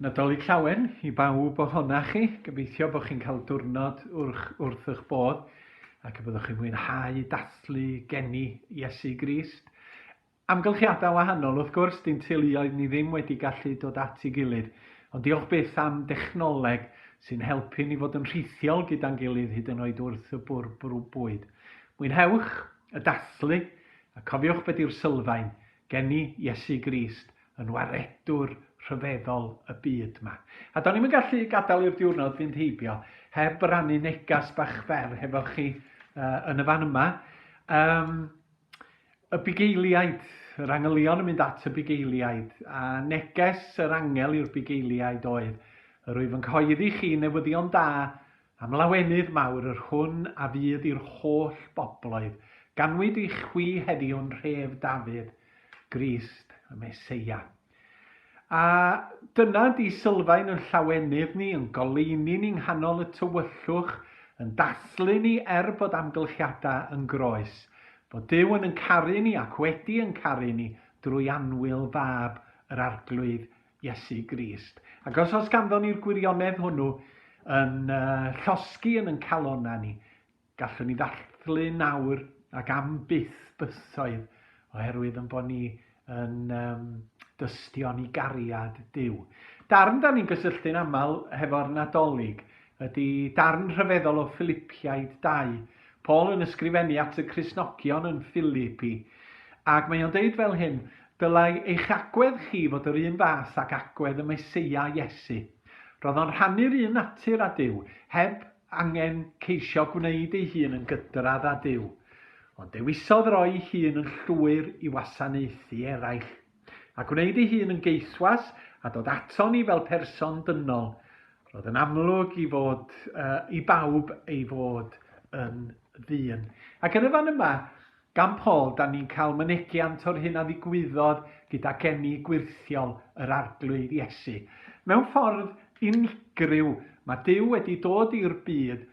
Nadolig Llawen i bawb ohonoch chi. Gobeithio bod chi'n cael diwrnod wrch, wrth eich bod ac y byddwch chi'n mwynhau dathlu geni Iesu Grist. Amgylchiadau wahanol, wrth gwrs, dim teuluoedd ni ddim wedi gallu dod at ei gilydd, ond diolch byth am dechnoleg sy'n helpu ni fod yn rhithiol gyda'n gilydd hyd yn oed wrth y bwrw bwyd. Mwynhewch y dathlu, a cofiwch be di'r sylfaen, geni Iesu Grist yn Waredwr rhyfeddol y byd 'ma. A do'n i'm yn gallu gadael i'r diwrnod fynd heibio heb rannu negas bach fer hefo chi yn y fan yma. Yym. Y bugeiliaid, yr angylion yn mynd at y bugeiliaid, a neges yr angel i'r bugeiliaid oedd, Yr wyf yn cyhoeddi chi newyddion da am lawenydd mawr yr hwn a fydd i'r holl bobloedd, ganwyd i chwi heddiw yn nhref Dafydd, Grist, y Meseia. A dyna di sylfaen yn llawenydd ni, yn goleuni ni nghanol y tywyllwch, yn dathlu ni er bod amgylchiadau yn groes, fod Duw yn yn caru ni ac wedi yn caru ni drwy annwyl Fab yr Arglwydd, Iesu Grist. Ac os oes ganddon ni'r gwirionedd hwnnw yn llosgi yn yn calonau ni, Gallwn ni ddathlu nawr ac am byth bythoedd oherwydd yn bod ni yn um, dystion i gariad Dyw. Darn da ni'n gysylltu'n aml hefo'r Nadolig ydy darn rhyfeddol o Philippiaid 2. Paul yn ysgrifennu at y Crisnogion yn Philippi, ac mae o'n deud fel hyn, Dylai eich agwedd chi fod yr un fath ac agwedd y Meseia Iesu. Roedd o'n rhannu'r un natur â Dyw, heb angen ceisio gwneud ei hun yn gydradd â Duw, ond dewisodd roi'i hun yn llwyr i wasanaethu eraill, a gwneud ei hun yn geithwas a dod ato ni fel person dynol. Roedd yn amlwg i fod uh, i bawb ei fod yn ddyn. Ac yn y fan yma, Gan Paul, dan ni'n cael mynegiant o'r hyn a ddigwyddodd gyda geni gwyrthiol yr Arglwydd Iesu. Mewn ffordd unigryw, mae Duw wedi dod i'r byd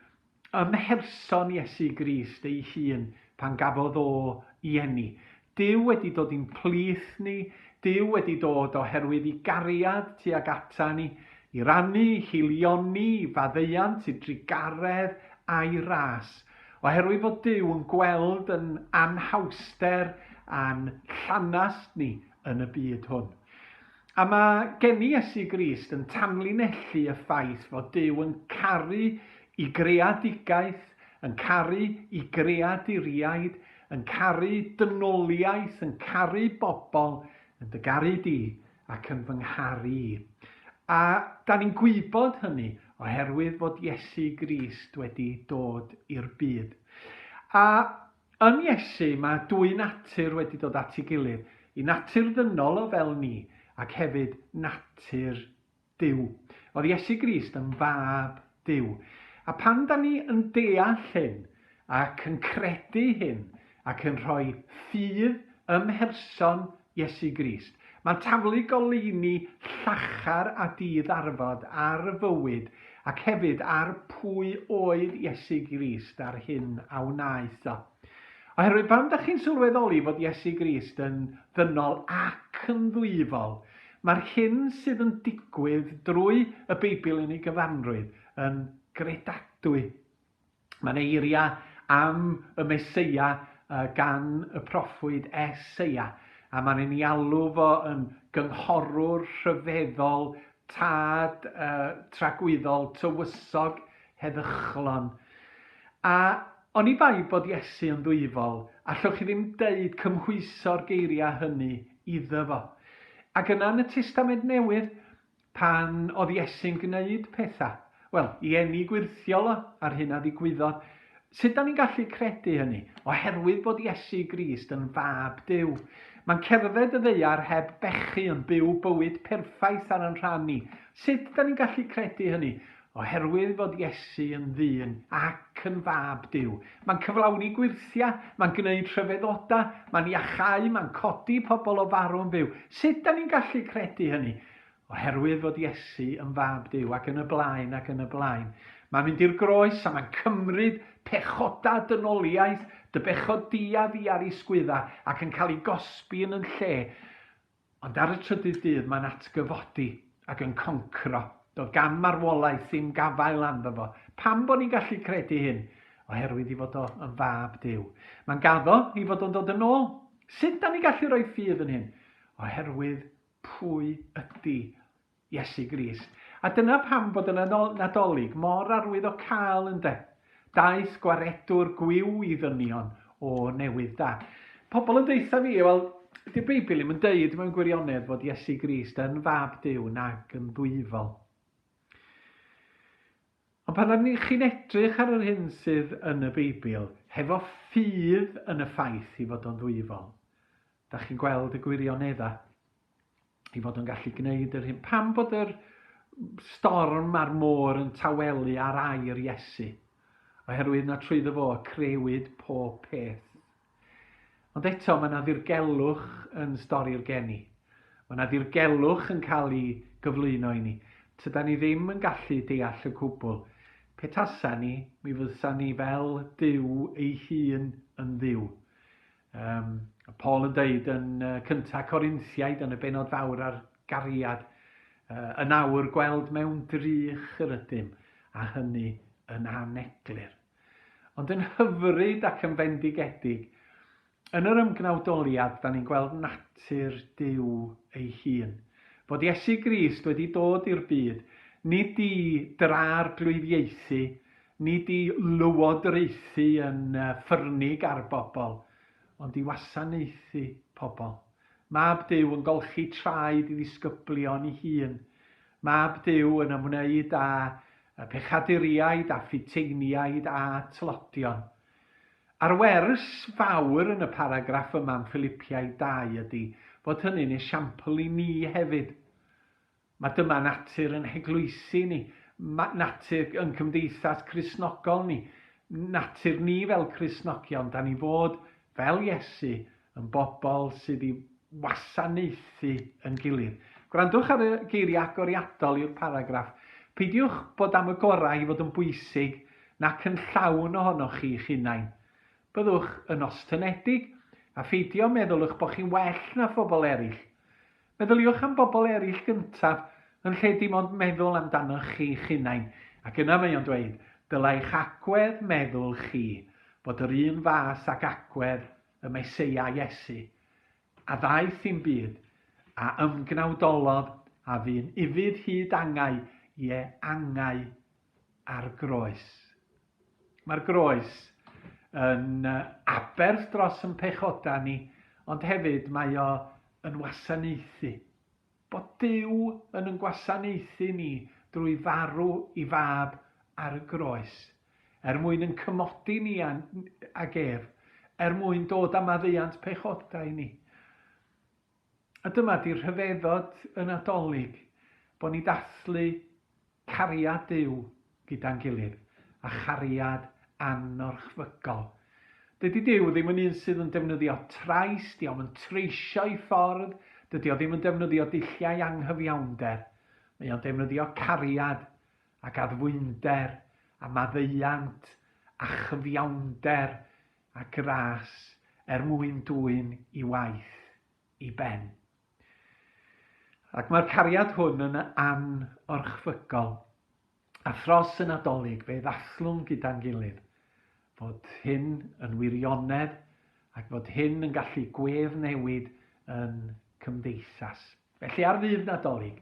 ym mherson Iesu Grist ei hun pan gafodd o i eni. Duw wedi dod i'n plith ni, Duw wedi dod oherwydd i gariad tuag ata ni, i rannu, i heilioni, i faddeuant, i drugaredd, a'i ras. Oherwydd fod Duw yn gweld yn anhawster a'n llanast ni yn y byd hwn. A mae geni Iesu Grist yn tanlinellu y ffaith fod Duw yn caru i greadigaeth, yn caru i greaduriaid, yn caru dynoliaeth, yn caru bobl, yn dy garu di, ac yn fy ngharu i. A da ni'n gwybod hynny oherwydd fod Iesu Grist wedi dod i'r byd. A yn Iesu mae dwy natur wedi dod at ei gilydd, i natur ddynol o fel ni ac hefyd natur Duw. Oedd Iesu Grist yn fab Duw. A pan da ni yn deall hyn ac yn credu hyn ac yn rhoi ffydd ym mherson Iesu Grist, mae'n taflu goleuni llachar a di-ddarfod ar fywyd ac hefyd ar pwy oedd Iesu Grist a'r hyn a wnaeth o. Oherwydd pan ydych chi'n sylweddoli fod Iesu Grist yn ddynol ac yn ddwyfol, mae'r hyn sydd yn digwydd drwy y Beibl yn ei gyfanrwydd yn gredadwy. Mae'n eiriau am y Meseia gan y proffwyd Eseia, a mae'n ei alw fo yn gynghorwr rhyfeddol tad tragwyddol, tywysog, heddychlon. A oni bai bod Iesu yn ddwyfol, allwch chi ddim deud cymhwyso'r geiriau hynny iddo fo. Ac yna yn y Testament Newydd, pan oedd Iesu'n gwneud pethau, Wel, i eni gwyrthiol o, ar hyn a ddigwyddodd. Sut da ni'n gallu credu hynny? Oherwydd bod Iesu Grist yn fab Duw. Mae'n cerdded y ddeiar heb bechu, yn byw bywyd perffaith ar yn rhan ni. Sut da ni'n gallu credu hynny? Oherwydd fod Iesu yn ddyn ac yn fab Duw. Mae'n cyflawni gwyrthiau, mae'n gwneud rhyfeddodau, mae'n iachau, mae'n codi pobl o farw'n fyw. Sut da ni'n gallu credu hynny? oherwydd fod Iesu yn Fab Duw, ac yn y blaen ac yn y blaen. Mae'n mynd i'r groes a mae'n cymryd pechoda dynoliaeth, dy bechod di a fi ar ei sgwydda, ac yn cael ei gosbi yn yn lle. Ond ar y trydydd dydd mae'n atgyfodi ac yn concro. Doedd gan marwolaeth ddim gafael anddo fo. Pam bod ni'n gallu credu hyn? Oherwydd i fod o yn fab Duw. Mae'n gaddo i fod o'n dod yn ôl. Sut da ni gallu rhoi ffydd yn hyn? Oherwydd pwy ydi Iesu Grist. A dyna pam bod y Nadolig mor arwyddocaol, ynde? Daeth gwaredwr gwiw i ddynion o newydd da. Pobl yn deutha fi, wel, dy'r Beibl ddim yn deud mewn gwirionedd fod Iesu Grist yn fab Duw nag yn ddwyfol. Ond pan rydyn ni chi'n edrych ar yr hyn sydd yn y Beibl, hefo ffydd yn y ffaith i fod o'n ddwyfol, da chi'n gweld y gwirioneddau, i fod o'n gallu gwneud yr hyn. Pam bod yr storm a'r môr yn tawelu ar air Iesu? Oherwydd na trwy ddyfo crewyd pob peth. Ond eto, mae yna ddirgelwch yn stori'r geni. Mae yna ddirgelwch yn cael ei gyflwyno i ni. Tyda ni ddim yn gallu deall y cwbl. Pe tasa ni, mi fysa ni fel Dyw ei hun yn dduw. Um, Paul yn dweud yn uh, cyntaf Corinthiaid yn y benod fawr ar gariad, uh, yn awr gweld mewn drych yr ydym, a hynny yn aneglur. Ond yn hyfryd ac yn fendigedig, yn yr ymgnawdoliad dan ni'n gweld natur Duw ei hun. Fod Iesu Grist wedi dod i'r byd, nid i drarglwyddiaethu, nid i lywodraethu yn ffyrnig ar bobl, ond i wasanaethu pobl. Mab Duw yn golchi traed i ddisgyblion ei hun, Mab Duw yn ymwneud â phechaduriaid a Phutiainiaid a tlodion. A'r wers fawr yn y paragraff yma yn Philippiaid dau ydy fod hynny'n esiampl i ni hefyd. Mae dyma natur yn heglwysi ni, mae natur yn cymdeithas Cristnogol ni, natur ni fel Cristnogion, da ni fod fel Iesu, yn bobl sydd i wasanaethu yn gilydd. Gwrandwch ar y geiriau agoriadol i'r paragraff. Peidiwch bod am y gorau i fod yn bwysig nac yn llawn ohonoch chi'ch hunain. Byddwch yn ostyngedig, a pheidio meddwl eich bod chi'n well na phobl eraill. Meddyliwch am bobl eraill gyntaf, yn lle dim ond meddwl amdanoch chi'ch hunain, ac yna mae o'n dweud, dylai'ch agwedd meddwl chi fod yr un fath ag agwedd y Meseia Iesu, a ddaeth i'm byd, a ymgnawdolodd, a fu'n ufudd hyd angau, ie, angau ar groes. Mae'r groes yn aberth dros yn pechoda ni, ond hefyd mae o yn wasanaethu. Bod Duw yn yn gwasanaethu ni drwy farw i fab ar y groes, er mwyn yn cymodi ni ag ef, er mwyn dod â maddeuant pechodau ni. A dyma di'r rhyfeddod y Nadolig, bod ni'n dathlu cariad Duw gyda'n gilydd, a chariad anorchfygol. Dydy Duw ddim yn un sydd yn defnyddio trais, dio'm yn treisio ei ffordd, dydy o ddim yn defnyddio dulliau anghyfiawnder. Mae o'n defnyddio cariad ac addfwynder a maddeuant a chyfiawnder a gras er mwyn dwyn i waith i ben. Ac mae'r cariad hwn yn anorchfygol. A thros y Nadolig, fe ddathllwn gyda'n gilydd fod hyn yn wirionedd ac fod hyn yn gallu gwef newid yn cymdeithas. Felly ar Ddydd Nadolig,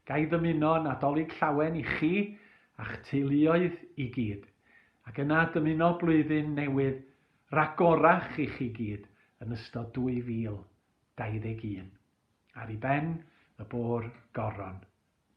ga i ddymuno Nadolig Llawen i chi a'ch teuluoedd i gyd, ac yna dymuno blwyddyn newydd ragorach i chi gyd yn ystod 2021. Ar i ben y bôr goron.